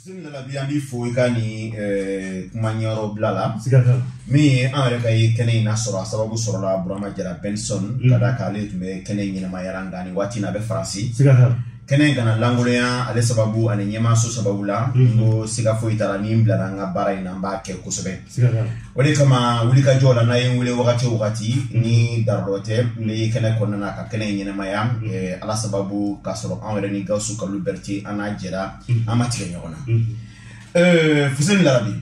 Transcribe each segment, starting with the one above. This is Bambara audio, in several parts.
Fuseni Lalabi an b'i fo i ka nin ɛɛ kuma ɲɛyɔrɔbila la, siga t'a la, min ye an yɛrɛ ka ye kɛnɛ in lasɔrɔ a sababu sɔrɔla Burama Jara Benson ka d'a kan ale tun bɛ kɛnɛ in ɲɛnamaya nka nin waati in a bɛ Faransi, siga t'a la, kɛnɛ in kana lankolonya ale sababu ani ɲɛmaayaso sababu la, n ko siga foyi t'a la ni n bilara n ka baara in na n b'a kɛ kosɛbɛ o de kama wulikajɔ la n'a ye n wele wagati o wagati ni darura tɛ n bɛ kɛnɛ kɔnɔna na ka kɛnɛ in ɲɛnamaya eh, ala sababu k'a sɔrɔ anw yɛrɛ ni gawusu kalu berete an n'a jɛra an ma tigɛ ɲɔgɔn na eh, fuseni lalabi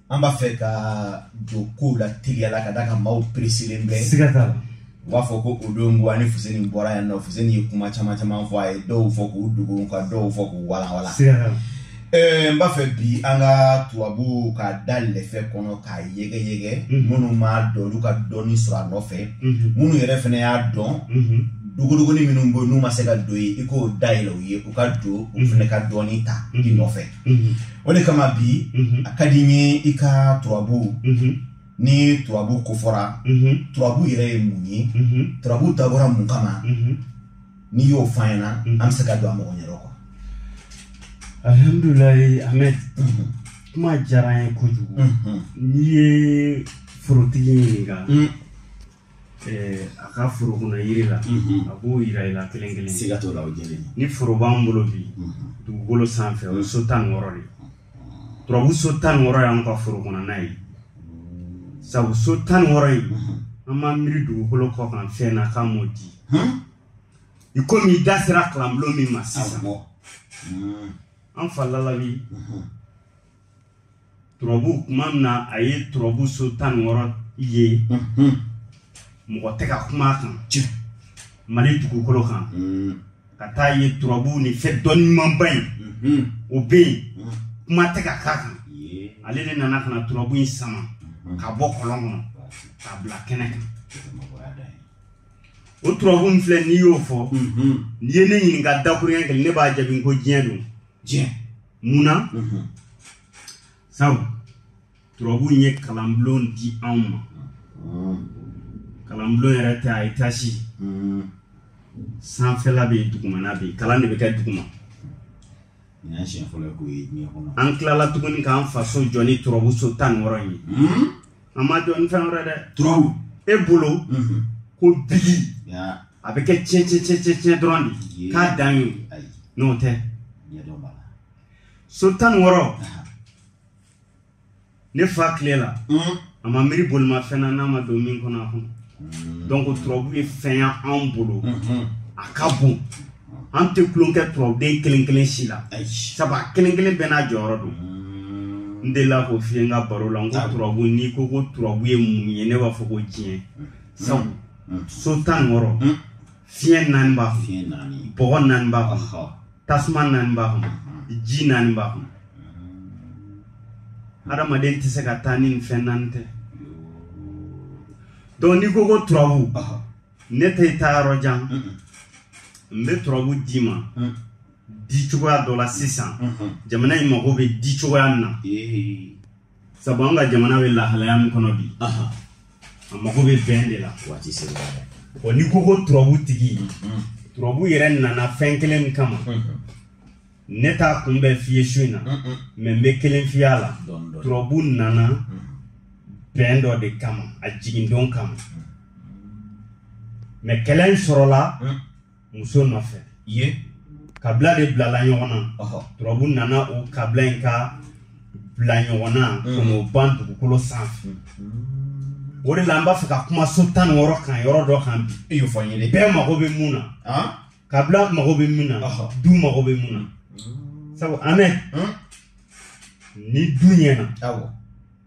an b'a fɛ ka don kow la teliya la ka d'a kan maaw peresilen bɛ u b'a fɔ ko o don ko ani fuseni bɔra yan nɔ fuseni ye kuma caman caman fɔ a ye dɔw fɔ k'u dogo ka dɔw fɔ k'u walawala eh, n b'a fɛ bi an ka turabu ko da lɛfɛ kɔnɔ k'a yɛgɛ yɛgɛ mhm. minnu m'a dɔn olu ka dɔnni sɔrɔ a nɔfɛ mhm. minnu yɛrɛ fana y'a dɔn mhm. dogodogonin minnu bɛ n'u ma se ka don yen i k'o dayɛlɛ u ye u ka don u fana ka dɔɔni ta i nɔfɛ o de kama bi a ka di n ye i ka turabu ni turabu ko fɔra turabu yɛrɛ ye mun ye turabu dabɔra mun kama n'i y'o fɔ an ɲɛna an bɛ se ka don a mɔgɔ yɛrɛ kɔ alihamdulilayi ahmed kuma diyara an ye kojugu n'i ye forotigi ɲininka a ka foro kɔnɔ yiri la a b'o yira i la kelen kelen siga t'o la o jɛlen ni foro b'an bolo bi dugukolo sanfɛ o ye so tan ni wɔɔrɔ de ye turabu so tan ni wɔɔrɔ y'an ka foro kɔnɔna ye sabu so tan ni wɔɔrɔ in an m'an miiri dugukolo kɔ kan fɛn na k'a m'o di i komi i da sera kalanbulon min ma sisan an fa lalabi turabu kuma min na a ye turabu so tan ni wɔɔrɔ ye mɔgɔ tɛ ka kuma a kan mali dugukolo kan ka taa ye turabu ni fɛn dɔnni ɲumanba in mhm. o bɛ yen mhm. kuma tɛ ka k'a kan ale de nana ka na turabu in sama mhm. ka bɔ kɔlɔn kɔnɔ k'a bila kɛnɛ kan o turabu min filɛ n'i y'o fɔ n'i ye ne ɲininka dakuruɲɛ kelen ne b'a jaabi ko diɲɛ don diɲɛ mun na sabu turabu ye kalanbulon di anw ma kalanbulon yɛrɛ tɛ a etasi sanfɛla bɛ yen dugumana bɛ yen kalan de bɛ kɛ duguma an tilala tuguni k'an faso jɔ ni turabu so tan ni wɔɔrɔ in ye hmm? an m'a jɔ ni fɛn wɛrɛ dɛ turabu e bolo mhm. ko bigi a bɛ kɛ tiɲɛ tiɲɛ tiɲɛ tiɲɛ tiɲɛ dɔrɔn de k'a dan ye n'o tɛ so tan ni wɔɔrɔ ne fa tile la mm. a ma miiri bolimafɛn na n'a ma don min kɔnɔ a kɔnɔ mm. donc turabu ye fɛn ye anw bolo mm-hmm. a ka bon an tɛ tulonkɛ turabuden kelen kelen si la sabu a kelen kelen bɛɛ n'a jɔyɔrɔ don mm. n delila k'o f'i ye n ka baro la n ko turabu n'i ko ko turabu ye mun ye ne b'a fɔ ko diɲɛ sabu so tan ni wɔɔrɔ fiɲɛ naani b'a kɔnɔ bɔgɔ naani b'a kɔnɔ tasuma naani b'a kɔnɔ ji naani b'a kɔnɔ hadamaden tɛ se ka taa ni nin fɛn naani tɛ donc n'i ko ko turabu ne tɛ taa yɔrɔ jan n bɛ turabu d'i ma di cogoya dɔ la sisan jamana in mago bɛ di cogoya min na sabu an ka jamana bɛ lahalaya min kɔnɔ bi a mago bɛ bɛn de la waati sera wa n'i ko ko turabu tigi mm-hmm. turabu yɛrɛ nana fɛn kelen min kama mm-hmm. ne t'a kun bɛɛ f'i ye su in na mm-hmm. mɛ n bɛ kelen f'i ye a la turabu nana bɛn dɔ de kama a jigindon kama mɛ kɛlɛ in sɔrɔla muso nɔfɛ ye kabila de bilala ɲɔgɔn na turabu nana o kabila in ka bila ɲɔgɔn na mm. k'o ban dugukolo sanfɛ mm. o de la an b'a fɛ ka kuma so tan ni wɔɔrɔ kan yɔrɔ dɔ kan bi e y'o fɔ n ye bɛɛ mago bɛ mun na ah? kabila mago bɛ mun na du mago bɛ mun na mm. sabu amɛ ni du ɲɛna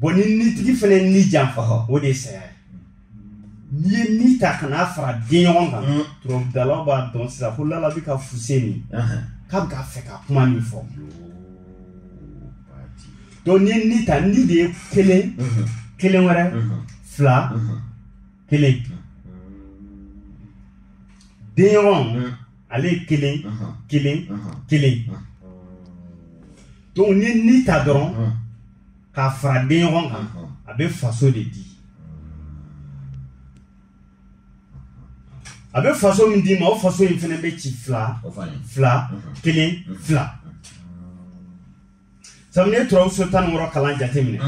bɔn ni nitigi fana ye ni janfa o de ye saya ye n'i ye ni ta ka n'a fara den ɲɔgɔn kan mm. turabudalaw b'a dɔn sisan ko lala bɛ ka fuse min k'a bɛ k'a fɛ ka kuma min fɔ donc n'i ye ni ta ni de ye kelen mm-hmm. kelen wɛrɛ mm-hmm. fila mm-hmm. kelen den ɲɔgɔn ale ye kelen kelen kelen donc n'i ye ni ta dɔrɔn k'a fara den ɲɔgɔn kan a bɛ faso de di a bɛ faso min d'i ma o faso in fana bɛ ci fila fila kelen fila sabu ne turabu so tan ni wɔɔrɔ kalan jate minɛ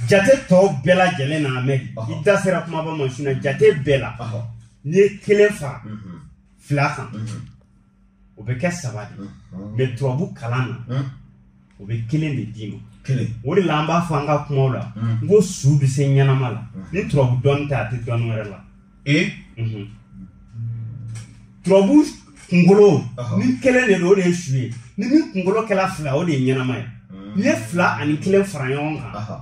jate tɔw bɛɛ lajɛlen na mɛ i da sera kumaba ma sinon jate bɛɛ la n'i ye kelen fara fila kan o bɛ kɛ saba de mɛ turabu kalan na o bɛ kelen de d'i ma o de la an b'a fɔ an ka kumaw la n ko su bɛ se ɲɛnama la ni turabu dɔnni tɛ a tɛ dɔnni wɛrɛ la turabu kunkolonin kelen de don o de ye su ye ni min kunkolo kɛra fila o de ye ɲɛnama ye n'i ye fila ani kelen fara ɲɔgɔn kan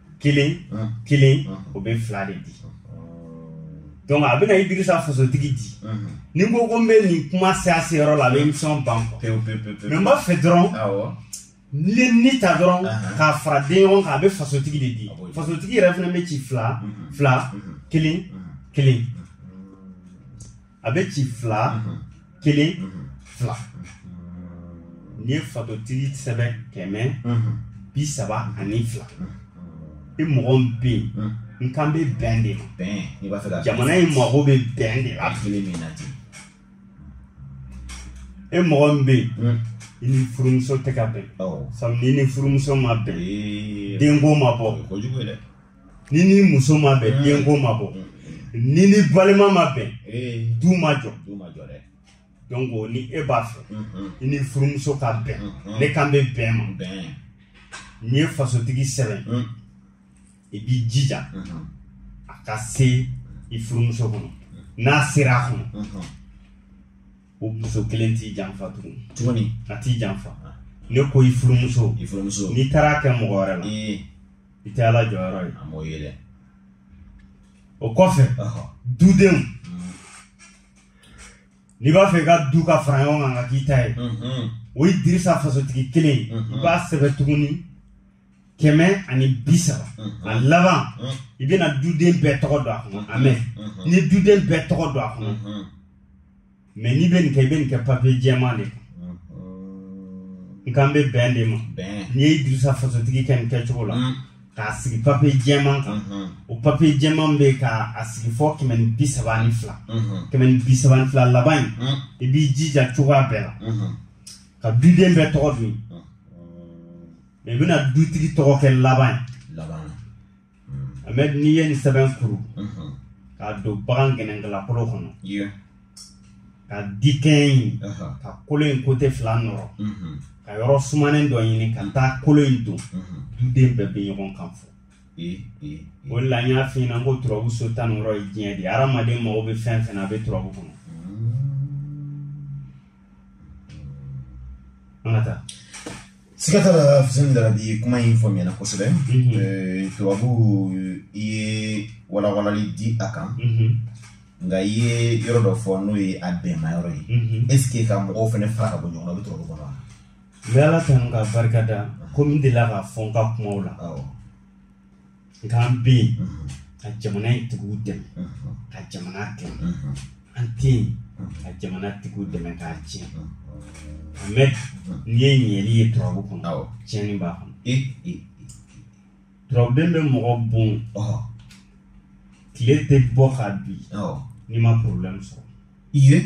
kelen kelen o bɛ fila de di donc a bɛna idirisa fasotigi di ni ko ko n bɛ nin kuma se a seyɔrɔ la a bɛ émission ban quoi mais n b'a fɛ dɔrɔn n'i ye ni ta dɔrɔn k'a fara den ɲɔgɔn kan a bɛ fasotigi de di fasotigi yɛrɛ fana bɛ ci fila fila kelen kelen a bɛ ci fila kelen fila n'i ye fasotigi sɛbɛn kɛmɛ bi saba ani fila i mɔgɔ min bɛ yen n kan bɛ bɛn de ma bɛn n'i b'a fɛ ka jamana in mago bɛ bɛn de la fili min na ten e mɔgɔ min bɛ yen i ni furumuso tɛ ka bɛn sabu n'i ni furumuso ma bɛn denko ma bɔ kojugu ye dɛ n'i ni muso ma bɛn mm. denko ma bɔ mm. n'i ni balima ma bɛn eh. du ma jɔ donc o ni e b'a fɛ mm-hmm. i ni furumuso ka bɛn mm-hmm. ne kan bɛ bɛn ma n'i ye fasotigi sɛbɛn mm. i b'i jija mm-hmm. a ka se i furumuso kɔnɔ n'a sera a kɔnɔ o muso kelen t'i janfa tugun tuguni a t'i janfa ah. ne ko i furumuso i furumuso n'i taara kɛ mɔgɔ wɛrɛ la i tɛ ala jɔyɔrɔ ye a m'o ye dɛ o kɔfɛ dudenw mm. n'i b'a fɛ i ka du ka fara ɲɔgɔn kan ka k'i ta ye mm-hmm. o ye idirisa fasotigi kelen ye mm-hmm. i b'a sɛbɛn tuguni kɛmɛ ani bi saba mm-hmm. a laban mm. i bɛna duden bɛɛ tɔgɔ don a kɔnɔ mais ni duden bɛɛ tɔgɔ don a kɔnɔ mais n'i bɛ nin kɛ i bɛ nin kɛ papiye jɛman de kan n kan bɛ bɛn de ma n'i ye idirisa fasotigi kɛ nin kɛcogo la mm. k'a sigi papiye jɛman kan mm-hmm. o papiye jɛman bɛ ka a sigi fɔ kɛmɛ ni bi saba ni fila mm-hmm. kɛmɛ ni bi saba ni fila laban in mm. i b'i jija cogoya bɛɛ la mm-hmm. ka duden bɛɛ tɔgɔ don mais i bɛna dutigi tɔgɔ kɛ laban ye mais n'i ye nin sɛbɛn kuru k'a don bagan gɛnɛnkalakolo kɔnɔ ka dikɛɲɛ in ka kolo in côté fila nɔrɔ ka yɔrɔ sumanen dɔ ɲini ka taa kolo in don duden bɛɛ bɛ ɲɔgɔn kan fɔ o de la n y'a f'i ɲɛna ko turabu so tan ni wɔɔrɔ ye diɲɛ de ye hadamaden mago bɛ fɛn fɛn na a bɛ turabu kɔnɔ an ka taa siga t'a la fuseni darabi kuma in faamuyana kosɛbɛ mhm. turabu i ye walawalali di a kan mhm. nka i ye yɔrɔ dɔ fɔ n'o ye a bɛnma yɔrɔ ye mhm. est ce que ka mɔgɔw fana fara ka bɔ ɲɔgɔn na o bɛ turabu kɔnɔ wa n bɛ ala tanu k'a barika da komi n delila k'a fɔ n ka kumaw la nk'an bɛ yen ka jamana in tigiw dɛmɛ ka jamana dɛmɛ an tɛ yen ka jamana tigiw dɛmɛ k'a tiɲɛ mɛ n'i ye ɲɛli ye turabu kɔnɔ tiɲɛni b'a kɔnɔ turabuden bɛ mɔgɔ bon tile tɛ bɔ ka bin n'i ma porobilɛmu sɔrɔ i ye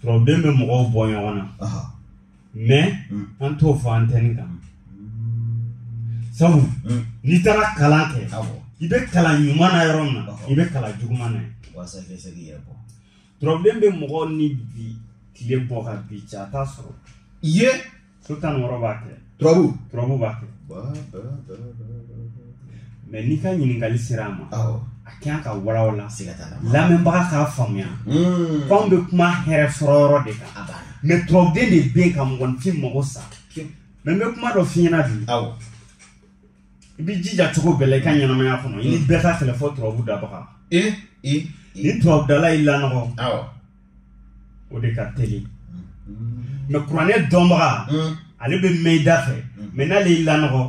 Turabuden bɛ mɔgɔw bɔ ɲɔgɔn na mɛ mm. an t'o fɔ antenne kan sabu mm. n'i taara kalan kɛ i bɛ kalan ɲuman na yɔrɔ min na i bɛ kalan juguman na turabuden bɛ mɔgɔ ni bi tile bɔ ka bin ca t'a sɔrɔ i ye so tan wɔɔrɔ b'a kɛ turabu turabu b'a kɛ mɛ n'i ka ɲininkali sera a ma a ka ɲi ka walawala lamɛnbaga k'a faamuya hmm. f'anw bɛ kuma hɛrɛ sɔrɔ yɔrɔ de kan mɛ turabuden de bɛ yen ka mɔgɔninfin mago sa mɛ n bɛ kuma dɔ f'i ɲɛna bi i bɛ jija cogo bɛɛ la i ka ɲɛnamaya kɔnɔ i ni bɛɛ ka kɛlɛ fɔ turabu dabaga ni turabudala y'i lanɔgɔ o de ka teli mɛ kuranɛ dɔnbaga ale bɛ mɛn i dafɛ mɛ n'ale y'i lanɔgɔ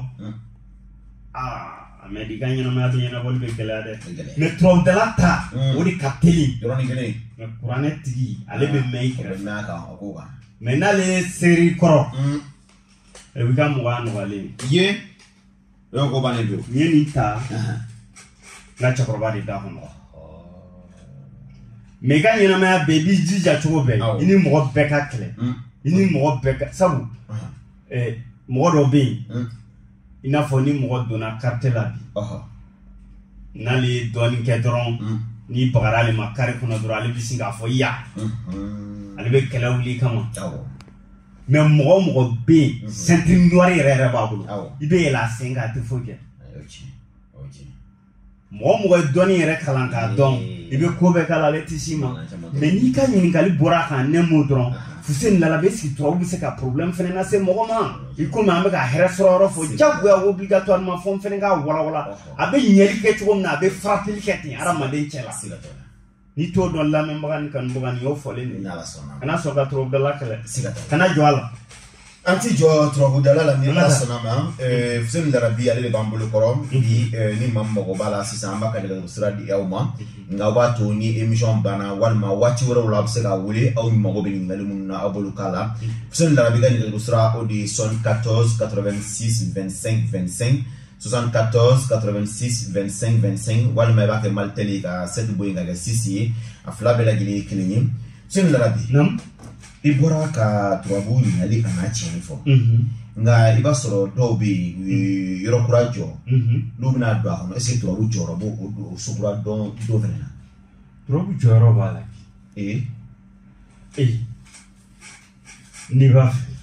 aa mɛ i ka ɲɛnamaya bɛɛ ɲɛnabɔli bɛ gɛlɛya dɛ mɛ turabudala ta o de ka teli mɛ kuranɛ tigi ale bɛ mɛn i kɛrɛfɛ mɛ n'ale ye seri kɔrɔ i b'i ka mɔgɔya nɔgɔyalen ye Yɔrɔ ko bannen don. Nin ye nin ta. N ka cɛkɔrɔba de da kɔnɔ. Mɛ i ka ɲɛnamaya bɛɛ i b'i jija cogo bɛɛ i ni mɔgɔ bɛɛ ka kɛlɛ mm. i ni mɔgɔ bɛɛ ka sabu eh, mɔgɔ dɔ bɛ yen mm. i n'a fɔ ni mɔgɔ donna karate la bi n'ale ye dɔɔnin kɛ dɔrɔn mm. n'i bagara ale ma kare kɔnɔ dɔrɔn ale bɛ sin k'a fɔ i ye ale bɛ kɛlɛ wuli kama mɛ mɔgɔ o mɔgɔ bɛ yen mhm. ceinture noire yɛrɛ yɛrɛ b'a bolo i bɛ yɛlɛ a sen kan a tɛ foyi kɛ mɔgɔ o mɔgɔ ye dɔnni yɛrɛ kalan k'a dɔn i bɛ ko bɛɛ k'a la ale tɛ s'i ma mɛ n'i ka ɲininkali bɔra a kan ne m'o dɔrɔn fuseni larabi est-ce que turabu bɛ se ka problème fɛnɛ lase mɔgɔ ma i komi an bɛ ka hɛrɛ sɔrɔ yɔrɔ fɔ jagoya obligatoirement fɔ n fɛnɛ k'a walawala a bɛ ɲɛli kɛ cogo min na a bɛ faratili kɛ ten hadamaden cɛ la n'i t'o dɔn lamɛnbaga ni kanubaga ni y'o fɔlen de ala sɔnna kana sɔn ka turabudala kɛlɛ kana jɔ a la an ti jɔ turabudala la ni ala sɔnna ma fuseni larabi ale de b'an bolo kɔrɔ bi ni min mago b'a la sisan an b'a ka nɛgɛjuru sira di aw ma nka aw b'a to ni emission banna walima waati wɛrɛw la aw bɛ se k'a wele aw mago bɛ ɲininkali minnu na aw b'olu k'a la fuseni larabi ka nɛgɛjuru sira o de ye 74 86 25 25 74 86 25 25 walima i b'a kɛ malitɛli ka sɛti bɔ yen ka kɛ sisi ye a fila bɛɛ lajɛlen ye kelen ye senu larabi i bɔra ka turabu ɲali a n'a tiɲɛni fɔ nka i b'a sɔrɔ dɔw bɛ yen u ye yɔrɔ kura jɔ n'u bɛna don a kɔnɔ ɛseke turabu jɔyɔrɔ b'o o so kura don don fɛnɛ na turabu jɔyɔrɔ b'a la ee ee n'i b'a fɛ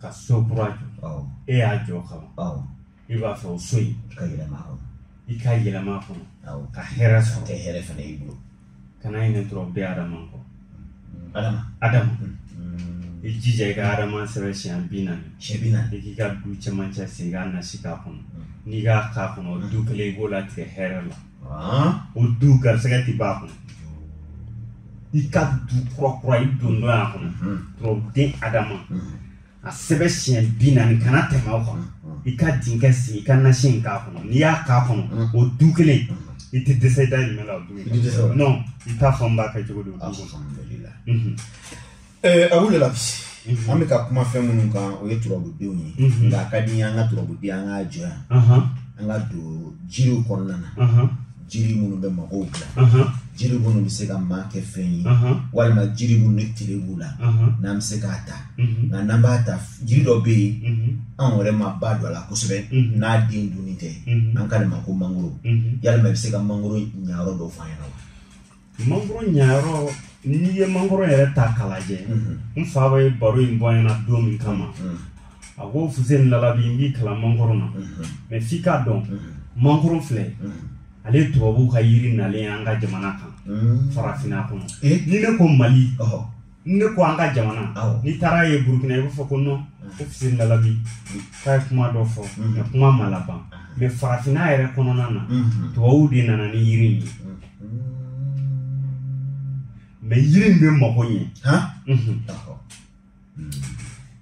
ka so kura jɔ awɔ e y'a jɔ ka ban awɔ i b'a fɛ o so in ka yɛlɛma kɔnɔ i ka yɛlɛma a kɔnɔ awɔ ka hɛrɛ ka sɔrɔ kɛ hɛrɛ fana y'i bolo kana ɲinɛ turabuden adama kɔ adama adama i jija i ka adama sɛbɛn siɲɛ bi naani siɲɛ bi naani i k'i ka du cɛmancɛ sen i ka nasi k'a kɔnɔ n'i k'a k'a kɔnɔ du kelen i b'o latigɛ hɛrɛ la o du garisɛgɛ tɛ ban a kɔnɔ i ka du kura kura i dontɔ y'a kɔnɔ turabuden adama a sɛbɛn siɲɛ bi naani kana tɛmɛ o kan i ka dinkɛ sen i ka nasi in k'a kɔnɔ n'i y'a k'a kɔnɔ o du kelen i tɛ dɛsɛ i dahirimɛ la o du in non i t'a fɔ n b'a kɛ cogo di o du kɔnɔ Eh, a wulila mhm. an bɛ ka kuma fɛn minnu kan o ye turabudenw ye mhm. nka a ka di an ka turabuden an k'a jɔ yan an ka don jiriw kɔnɔna na jiri minnu bɛ mɔgɔw bila jiri minnu bɛ se ka maa kɛ fɛn ye walima jiri minnu ni tere b'u la n'an bɛ se k'a ta nka n'an b'a ta jiri dɔ bɛ yen an yɛrɛ ma ba don a la kosɛbɛ n'a den dunni tɛ an ko nin ma ko mangoro yalima i bɛ se ka mangoro ɲayɔrɔ dɔ fɔ an ɲɛna wa mangoro ɲayɔrɔ n'i ye mangoro yɛrɛ ta k'a lajɛ n fa bɛ baro in bɔ ɲɛna don min kama a ko fuseni lalabi n b'i kalan mangoro na mɛ f'i k'a dɔn mangoro filɛ ale tubabuw ka yiri nalen ye an ka jamana kan farafinna kɔnɔ ni ne ko mali ne ko an ka jamana n'i taara ye burukina i b'a fɔ ko nɔn ko fuseni lalabi k'a ye kuma dɔ fɔ mɛ kuma ma laban mɛ farafinna yɛrɛ kɔnɔna na tubabuw de nana ni yiri in ye mɛ yiri in bɛ mago ɲɛ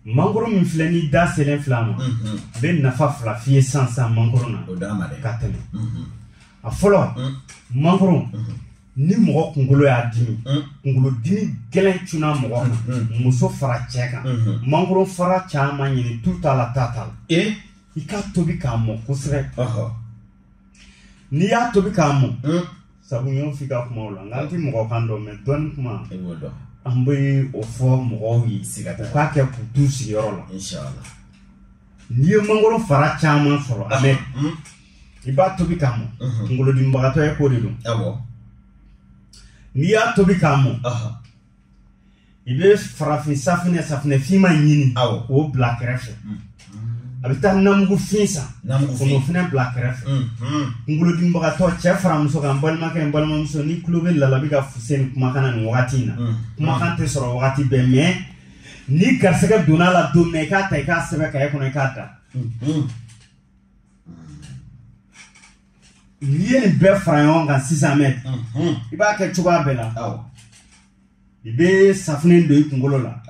mangoro min filɛ ni da selen fila ma n bɛ nafa fila f'i ye sisan mangoro na ka tɛmɛ a fɔlɔ mangoro ni mɔgɔ kunkolo y'a dimi mm. kunkolo dimi gɛlɛn cunna mɔgɔ kan mm, mm. muso fara cɛ kan mm-hmm. mangoro fara caman ɲini tu t'a la ta t'a la eh? i k'a tobi k'a mɔ kosɛbɛ n'i y'a tobi k'a mɔ sabu n y'o f'i ka kumaw la nka n ti mɔgɔ kan dɔn mɛ dɔɔni kuma an bɛ o fɔ mɔgɔw ye u k'a kɛ k'u t'u sigiyɔrɔ la n'i ye mangoro fara caman sɔrɔ a mɛn i b'a tobi k'a mɔ kunkolodimibagatɔ ye ko de don n'i y'a tobi k'a mɔ i bɛ farafin safinɛ safinɛ finma ɲini k'o bila kɛrɛfɛ i bɛ taa namugu fin san k'o fana bila kɛrɛfɛ kunkolodimibagatɔ cɛ fara muso kan balimakɛ n balimamuso n'i tulo bɛ lalabi ka fuseni kumakan na nin wagati in na kumakan tɛ sɔrɔ wagati bɛɛ mɛ n'i garisɛgɛ donna a la don min i k'a ta i k'a sɛbɛn kaye kɔnɔ i k'a da mhm. n'i ye nin bɛɛ fara ɲɔgɔn kan sisan mɛ mhm. i b'a kɛ cogoya bɛɛ la i bɛ safunɛ don i kunkolo la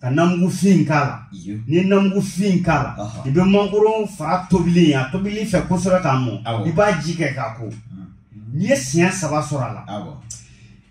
ka namugufin k'a la n'i ye namugufin k'a la i bɛ mangoro fara tobili a tobili fɛ kosɛbɛ k'a mɔ i b'a ji kɛ k'a ko mhm. n'i ye siɲɛ saba sɔrɔ a la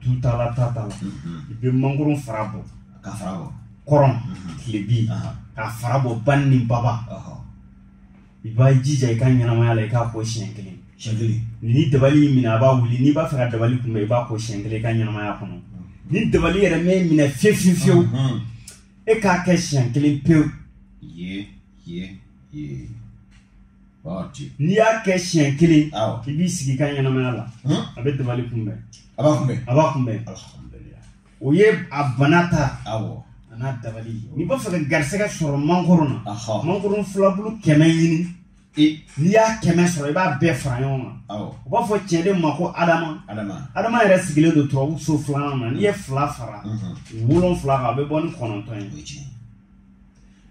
tutala ta ta la i bɛ mangoro fara bɔ ka fara bɔ kɔrɔn tilebi ka fara bɔ bani ni baba i b'a jija i ka ɲɛnamaya la i k'a ko siɲɛ kelen siɲɛ kelen ni dabali y'i minɛ a b'a wuli n'i b'a fɛ ka dabali kunbɛn i b'a ko siɲɛ kelen i ka ɲɛnamaya kɔnɔ ni dabali yɛrɛ m'i minɛ fiyewu fiyewu fiyewu e k'a kɛ siɲɛ kelen pewu ye ye ye n'i y'a kɛ siɲɛ kelen i b'i sigi i ka ɲɛnamaya la a bɛ dabali kunbɛn a b'a kunbɛn a b'a kunbɛn o ye a bana ta awɔ a n'a dabali n'i b'a fɛ ka garisɛgɛ sɔrɔ mangoro na mangoro filabulu kɛmɛ ɲini n'i y'a kɛmɛ sɔrɔ i b'a bɛɛ fara ɲɔgɔn kan u b'a fɔ cɛn de ma ko adama adama yɛrɛ sigilen don turabu so filanan na n'i ye fila fara wolonfila kan a bɛ bɔ ni kɔnɔntɔn ye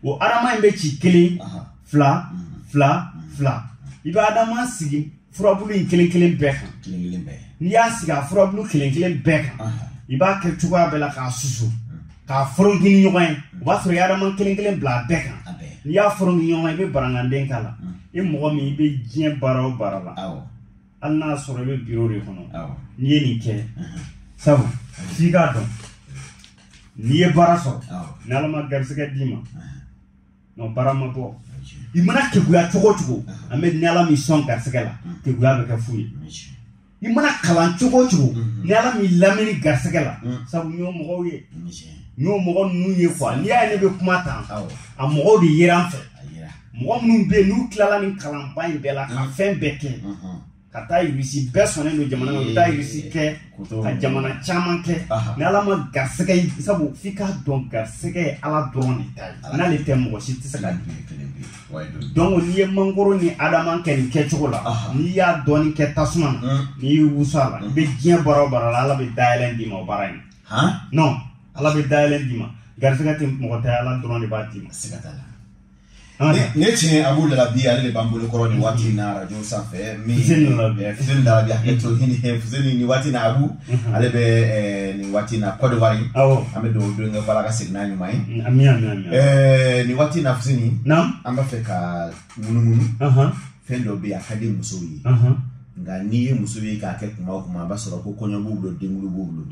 o adama in bɛ ci kelen fila fila fila i bɛ adama sigi furabulu in kelen kelen bɛɛ kan n'i y'a sigi a furabulu kelen kelen bɛɛ kan i b'a kɛ cogoya bɛɛ la k'a susu k'a foronki ni ɲɔgɔn ye o b'a sɔrɔ i adama kelen kelen bila a bɛɛ kan n'i y'a foronki ni ɲɔgɔn ye i bɛ baranganden k'a la i mɔgɔ min i bɛ diɲɛ baara o baara la hali n'a sɔrɔ i bɛ biro de kɔnɔ n'i ye nin kɛ sabu f'i k'a dɔn n'i ye baara sɔrɔ ni ala ma garisɛgɛ d'i ma n'o baara ma bɔ i mana keguya cogo cogo an bɛ ni ala m'i sɔn garisɛgɛ la keguya bɛ kɛ fu ye i mana kalan cogo cogo ni ala m'i lamini garisɛgɛ la sabu n y'o mɔgɔw ye n y'o mɔgɔ ninnu ye kuwa n'i y'a ye ne bɛ kuma tan a mɔgɔw de ye an fɛ mɔgɔ minnu bɛ yen n'u tilala nin kalanba in bɛɛ la ka mm. fɛn bɛɛ kɛ mm-hmm. ka taa irisi bɛɛ sɔnnen don jamana na u taa irisi kɛ ka jamana caman kɛ ni ala ma garisɛgɛ ye sabu f'i k'a dɔn garisɛgɛ ye ala dɔrɔn de ta ye n'ale tɛ mɔgɔ si tɛ se ka dun donc n'i ye mangoro ni adama kɛ nin kɛcogo la n'i y'a dɔɔni kɛ tasuma na mm. n'i y'i wusu a la i bɛ mm. diɲɛ baara o baara la ala bɛ dayɛlɛ d'i ma o baara in non ala bɛ dayɛlɛ d'i ma garisɛgɛ tɛ mɔgɔ tɛ ala dɔrɔn de b'a d'i ma ne tiɲɛ abu lalabi ale de b'an bolo kɔrɔ nin waati in na arajo sanfɛ min fuseni lalabi hakɛ to hini fuseni nin waati in na abu ale bɛ nin waati in na Côte d'Ivoire an bɛ dugawu don kɛ ko Ala ka segin n'a ɲuman ye ami ami ami nin waati in na fuseni an b'a fɛ ka munumunu fɛn dɔ bɛ yen a ka di musow ye nka n'i ye muso ye k'a kɛ kuma o kuma a b'a sɔrɔ ko kɔɲɔ b'u bolo denkuli b'u bolo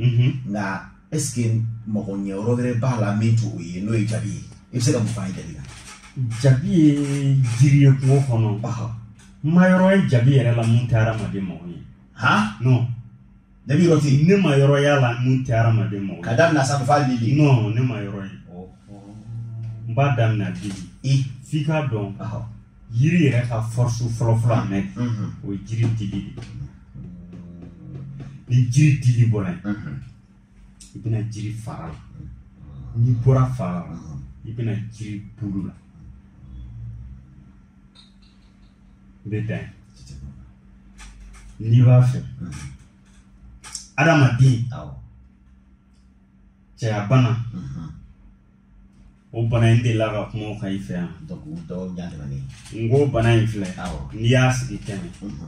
nka ɛseke mago ɲɛ yɔrɔ wɛrɛ b'a la min t'o ye n'o ye jabi ye i bɛ se ka mun f'an ye jabi la. jabi ye jiri ye kungo kɔnɔ. n ma yɔrɔ ye jabi yɛrɛ la mun tɛ hadamaden mago ɲɛ. han. non. ne bɛ yɔrɔ tɛ yen. ne ma yɔrɔ y'a la mun tɛ hadamaden mago ɲɛ. ka daminɛ a sanfɛ f'a lili. non ne ma yɔrɔ ye. n b'a daminɛ a lili. i f'i k'a dɔn. jiri yɛrɛ ka fɔrisu fɔlɔfɔlɔ an mɛ o ye jiri dili de ni jiri dili bɔra yen i bɛ na jiri fara la n'i bɔra fara la i bɛ na jiri bulu la n bɛ dan n'i b'a fɛ adamaden cɛyabana o bana in n delila ka kuma o kan i fɛ yan n ko bana in filɛ n'i y'a sigi kɛmɛ i mhm.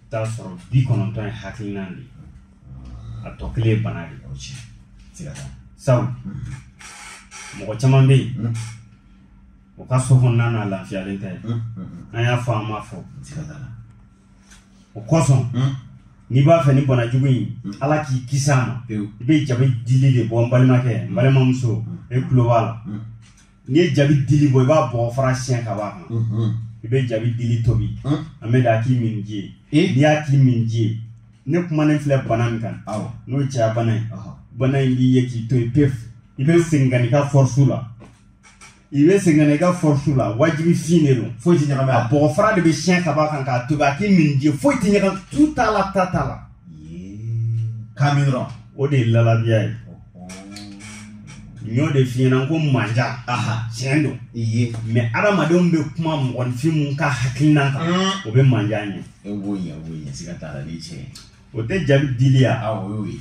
t'a sɔrɔ bi kɔnɔntɔn ye hakilinan de a tɔ kelen ye bana de sabu mhm. mɔgɔ caman bɛ yen mhm. o ka so kɔnɔna na lafiyalen tɛ an y'a fɔ an m'a fɔ o kosɔn hmm. n'i b'a fɛ nin bana jugu in hmm. ala k'i kisi a ma i bɛ jabi dili de bɔ n balimakɛ n balimamuso hmm. e tulo b'a la n'i ye jabi dili bɔ i b'a bɔ fara siɲɛ ka bɔ a kan i bɛ jabi dili tobi an bɛ da k'i min ji ye eh? n'i y'a k'i min ji ye ne kumanen filɛ bana min kan n'o ye cɛya bana ye bana in b'i ye k'i to yen pewu i bɛ segin ka n'i ka fɔrisu la i bɛ segin ka n'i ka fɔrisu la wajibi fɛn de don foyi tɛ ɲagami a bɔgɔ fara de bɛ siɲɛ ka b'a kan k'a tobi a k'i min ji ye foyi tɛ ɲagami tu t'a la ta t'a la k'a min dɔrɔn o de ye lalabiya ye n y'o de f'i ɲɛna ko manja tiɲɛ don mɛ adamadenw bɛ kuma mɔgɔninfin mun ka hakilinan kan o bɛ manja ɲɛ o tɛ jabi dili ya a o y'o ye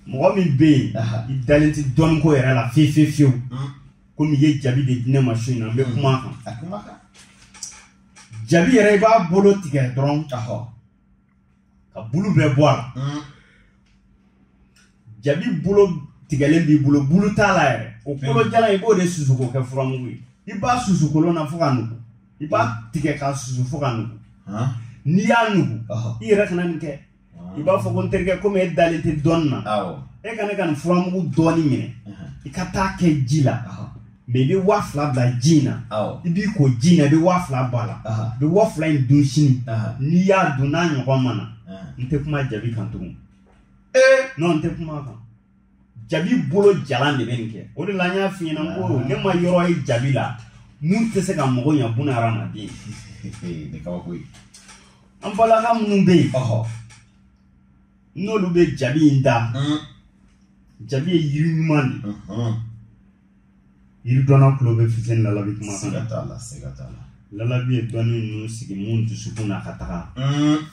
mɔgɔ min bɛ yen i dalen tɛ dɔnniko yɛrɛ la fewu fewu fewu hmm. komi i ye jabi de di ne ma su in na n bɛ hmm. kuma a kan jabi yɛrɛ i b'a bolo tigɛ dɔrɔn k'a bulu bɛɛ bɔ a la hmm. jabi bolo tigɛlen b'i bolo bulu t'a la yɛrɛ o kolo jalan i b'o de susu k'o kɛ furamugu ye i b'a susu kolon na fo ka nugu i b'a tigɛ k'a susu fo ka nugu n'i y'a nugu i yɛrɛ kana nin kɛ i b'a fɔ ko n terikɛ komi e dalen tɛ dɔnni na e ka ne ka nin furamugu dɔɔni minɛ i ka t'a kɛ ji la mɛ i bɛ waa fila bila ji in na i b'i ko ji in na i bɛ waa fila bɔ a la i bɛ waa fila in dun sini n'i y'a dun n'a ɲɔgɔn ma na n tɛ kuma jabi kan tugun n'o tɛ kuma kan jabi bolo jalan de bɛ nin kɛ o de la n y'a f'i ɲɛna ko ne ma yɔrɔ ye jabi la min tɛ se ka mɔgɔ ɲɛ buna hadamaden nin kabako ye an balima minnu bɛ yen n'olu bɛ jabi in da jabi ye yiri ɲuman de ye yiri dɔnna tulo bɛ fuseni narabi kuma kan siga t'a la siga t'a la ala ye dɔnni ninnu sigi minnu dusukun na ka taga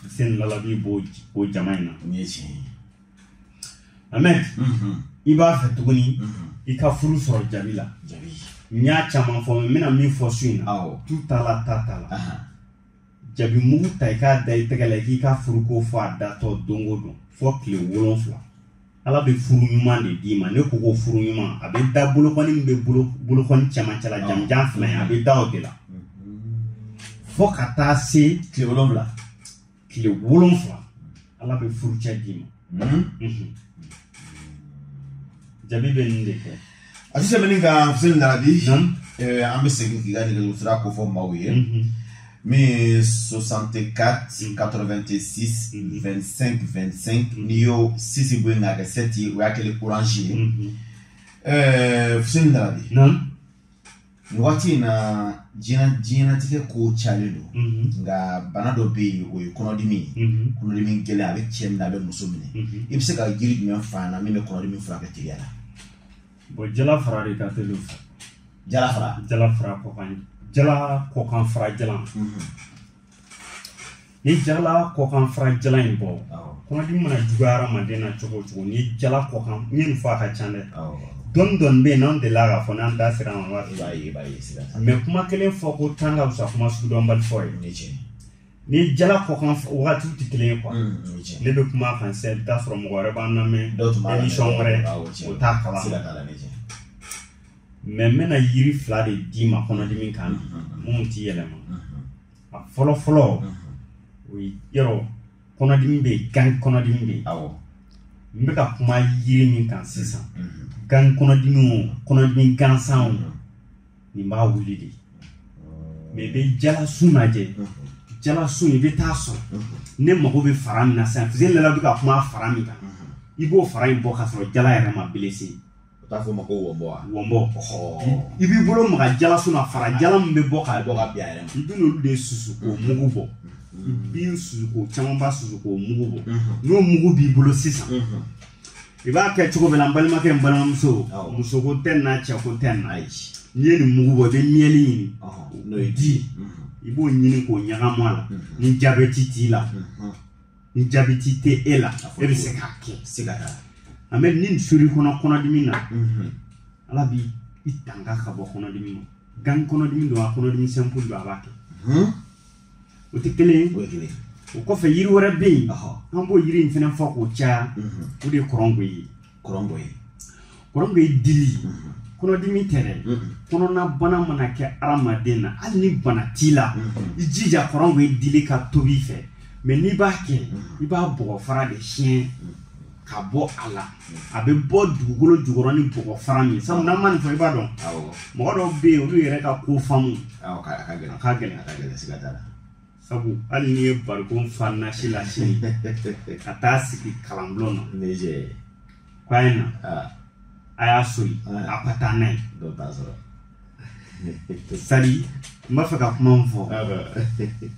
fuseni narabi b'o o jama in na nin ye tiɲɛ ye amɛn i b'a fɛ tuguni i ka furu sɔrɔ jabi la jabi n y'a caman fɔ n bɛna min fɔ su in na awɔ tu t'a la ta t'a la ahan jabi mugu ta i k'a da i tɛgɛ la i k'i ka furuko fɔ a datɔ don o don fo tile wolonfila ala bɛ furu ɲuman de d'i ma ne ko ko furu ɲuman a bɛ da bolokɔni min bɛ bolokɔni cɛmancɛ la jamanjan fila ye a bɛ da o de la fo ka taa se tile wolonfila tile wolonfila ala bɛ furucɛ d'i ma jabi bɛ nin de kɛ a tɛ tɛmɛ nin kan fuseni narabi eh, an bɛ segin k'i ka nɛgɛjuru sira ko fɔ maaw ye mhm. min ye 64 86 25 25 n'i y'o sisi bɔ yen k'a kɛ sɛti o y'a kɛlen orange ye mhm. eh, fuseni narabi nin waati in na diɲɛ diɲɛnatigɛ ko cayalen don mhm. nka bana dɔ bɛ yen o ye kɔnɔdimi ye mhm. kɔnɔdimi gɛlɛn a bɛ cɛ minɛ a bɛ muso minɛ mhm. i bɛ se ka jiri jumɛn fɔ an na min bɛ kɔnɔdimi furakɛ teliya la. bɔn jala fara de ka teli o fɛ. jala fara. jala fara kɔkan jala kɔkan fara jalan. ni jala kɔkan fara jalan bɔ kɔnɔdimi mana juguya hadamaden na cogo o cogo ni jala kɔkan n ye nin fɔ a ka ca dɛ dɔɔni dɔɔni bɛ yen n'an delila k'a fɔ n'an da sera an b'a fɔ mɛ kuma kelen fɔ ko tan ka fisa kuma sugu dɔnbali fɔ ye ni jala kɔkan wagatiw tɛ kelen ye kuwa ne bɛ kuma a kan sisan i bɛ t'a sɔrɔ mɔgɔ wɛrɛ b'an lamɛn emisɔn wɛrɛ o t'a kalan mɛ n bɛna yiri fila de d'i ma kɔnɔdimi kan minnu t'i yɛlɛma a fɔlɔ fɔlɔ o ye yɔrɔ kɔnɔdimi bɛ yen gan kɔnɔdimi bɛ yen awɔ n bɛ ka kuma yiri min kan sisan gan kɔnɔdimi o kɔnɔdimi gansan o nin b'a wuli de mɛ i bɛ jalasun lajɛ jalasun i bɛ t'a sɔrɔ ne mago bɛ fara min na sisan fuseni lalabi bɛ ka kuma fara min kan i b'o fara in bɔ k'a sɔrɔ jala yɛrɛ ma belese u t'a fɔ ma ko wɔnbɔ wa wɔnbɔ i b'i bolo maga jalasun na fara jalan min bɛ bɔ ka bɔ ka bin a yɛrɛ ma i bɛ n'olu de susu k'o mm-hmm. mugu bɔ mm-hmm. i b'o susu k'o camanba susu k'o mugu bɔ mm-hmm. n'o mugu b'i bolo sisan i b'a kɛ cogo min na n balimakɛ n balimamuso musoko tɛ n na cɛko tɛ n na n'i ye nin mugu bɔ i bɛ miɛli ɲini n'o ye di ye i b'o ɲini k'o ɲagami a la ni jabɛti t'i la ni jabɛti tɛ e la e bɛ se k'a kɛ se ka taa nka mɛ ni sori kɔnɔ kɔnɔdimi na mhm. ala b'i tanga ka bɔ kɔnɔdimi ma gan kɔnɔdimi don wa kɔnɔdimi sɛnpu don wa a b'a kɛ mhm. o tɛ kelen ye o kɔfɛ yiri wɛrɛ bɛ yen an b'o yiri in fana fɔ k'o caya mhm. o de ye kɔrɔngɔyi kɔrɔngɔyi kɔrɔngɔyi dili kɔnɔdimi tɛ dɛ kɔnɔnabana mana kɛ adamaden na hali ni bana t'i la i jija kɔrɔngɔyi dili ka tobi i fɛ mɛ n'i b'a kɛ i b'a bɔgɔ fara de siyɛn ka bɔ a la a bɛ bɔ dugukolo jukɔrɔ ni bɔgɔ fara min sabu n'an ma nin fɔ i b'a dɔn mɔgɔ dɔw bɛ yen olu yɛrɛ ka ko faamuya ka gɛlɛn a ka gɛlɛn a ka gɛlɛn siga t'a la sabu hali n'i ye barikon fa nasi la sini ka taa sigi kalanbulon na k'a ye na a y'a soli a ka taa n'a ye sadi n b'a fɛ ka kuma min fɔ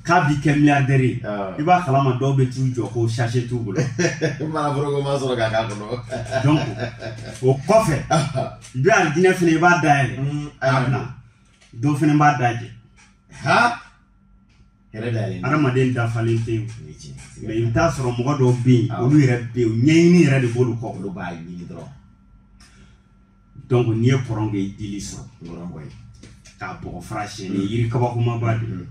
k'a b'i kɛ miliyardɛri ye i b'a kalama dɔw bɛ t'u jɔ ko sase t'u bolo manaforoko ma sɔrɔ k'a k'a kɔnɔ donc o kɔfɛ i bɛ alijinɛ fana i b'a dayɛlɛ a bila dɔ fana b'a dajɛ adamaden dafalen tɛ yen mɛ i bɛ t'a sɔrɔ mɔgɔ dɔw bɛ yen olu yɛrɛ bɛ yen ɲɛɲini yɛrɛ de b'olu kɔ olu b'a ɲini dɔrɔn donc n'i ye kɔrɔngɔyi dili sɔrɔ kɔrɔngɔyi k'a bɔgɔ fara siyɛn nin yiri kabakomaba de nin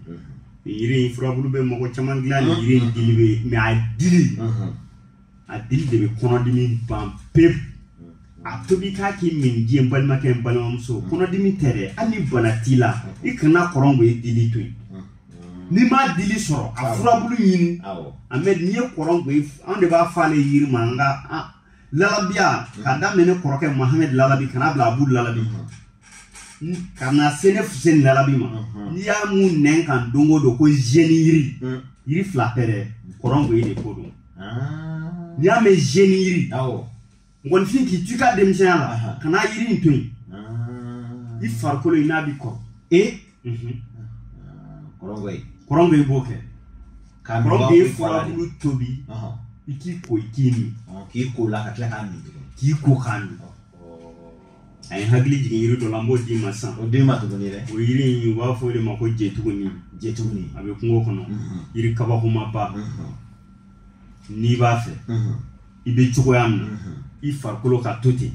yiri in furabulu bɛ mɔgɔ caman dilan nin yiri in dili bɛ mɛ a dili a dili de bɛ kɔnɔdimi ban pewu a tobi k'a k'i minji ye n balimakɛ n balimamuso kɔnɔdimi tɛ dɛ hali ni bana t'i la i kana kɔrɔngɔyi dili to yen n'i m'a dili sɔrɔ a furabulu ɲini an bɛ n'i ye kɔrɔngɔyi an de b'a fɔ ale yiri ma an ka lalabiya ka daminɛ ne kɔrɔkɛ mahamɛd lalabi ka n'a bila abu lalabi ka na se ne fuseni lalabi ma n'i y'a mɛn ne kan don o don ko zeni yiri yiri fila tɛ dɛ kɔrɔngɔyi de ko don n'i y'a mɛn zeni yiri mɔgɔninfin k'i to i ka denmisɛnya la kana yiri in to yen i farikolo in n'a b'i kɔ e kɔrɔn bɛ i b'o kɛ kɔrɔn bɛ furabulu tobi i k'i ko i k'i min k'i ko la ka tila k'a min k'i ko k'a min a ye n hakili jigin yiri dɔ la n b'o d'i ma sisan o d'i ma tuguni dɛ o yiri in u b'a fɔ o de ma ko jetuguni jetuguni a bɛ kungo kɔnɔ mhm. yiri kabakomaba mhm. n'i b'a fɛ mhm. i bɛ cogoya min na i farikolo ka to ten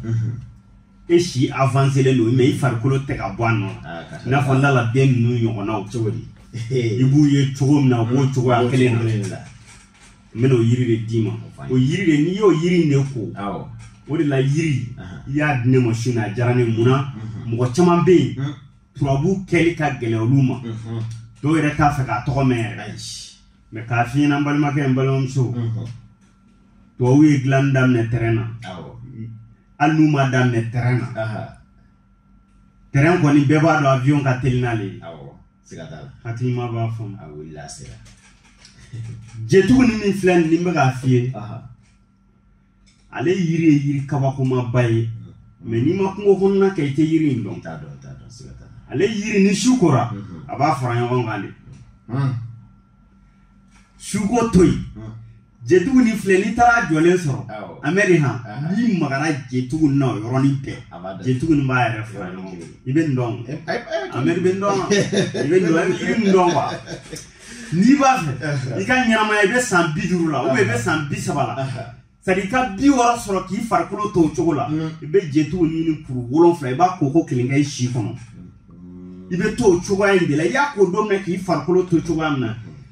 e si avanselen don mɛ i farikolo tɛ ka bɔ a nɔ la ah, i n'a fɔ n dala den ninnu ɲɔgɔnnaw cogo di i b'u ye cogo min na u b'o cogoya kelen na n bɛna o yiri de d'i ma o yiri de n'i y'o yiri in de ko o de la yiri i y'a di ne ma su in na a diyara ne mun na mhm. mɔgɔ caman bɛ yen mhm. turabu kɛli ka gɛlɛn olu ma mhm. dɔw yɛrɛ t'a fɛ k'a tɔgɔ mɛn yɛrɛ mɛ k'a fiɲɛ na n balimakɛ n balimamuso tubabu ye dilanni daminɛ tɛrɛn na hali n'u ma daminɛ tɛrɛn na tɛrɛn kɔni bɛɛ b'a dɔn avion ka teli n'ale ye siga t'a la hakilima b'a faamu a wulila a sera jetuguni min filɛ nin n bɛ k'a f'i ye ale yiri ye yiri kabakomaba ye mɛ n'i ma kungo kɔnɔna kɛ i tɛ yiri in dɔn t'a dɔn t'a dɔn siga t'a la ale yiri ni su kora mhm. a b'a fara ɲɔgɔn kan de mhm. suko to yen mhm. jetuguni filɛ n'i taar'a jɔlen sɔrɔ amɛri han n'i magara jetugunin na o yɔrɔnin bɛɛ jetugunin b'a yɛrɛ fara ɲɔgɔn i bɛ n dɔn amɛri bɛ n dɔn i bɛ n dɔn i bɛ n dɔn wa n'i b'a fɛ i ka ɲɛnamaya i bɛ san bi duuru la i bɛ san bi saba la sadi i ka bi wɔɔrɔ sɔrɔ k'i farikolo to o cogo la i bɛ jetugu ɲini kuru wolonfila i b'a koko kelen kɛ i si kɔnɔ i bɛ to o cogoya in de la i y'a ko don min na k'i farikolo to cogoya min na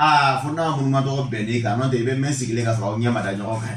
aa fo n'a munumatɔ bɛnn'i kan n'o tɛ i bɛ mɛɛn sigilen ka sɔrɔ aw ɲɛ ma da ɲɔgɔn kan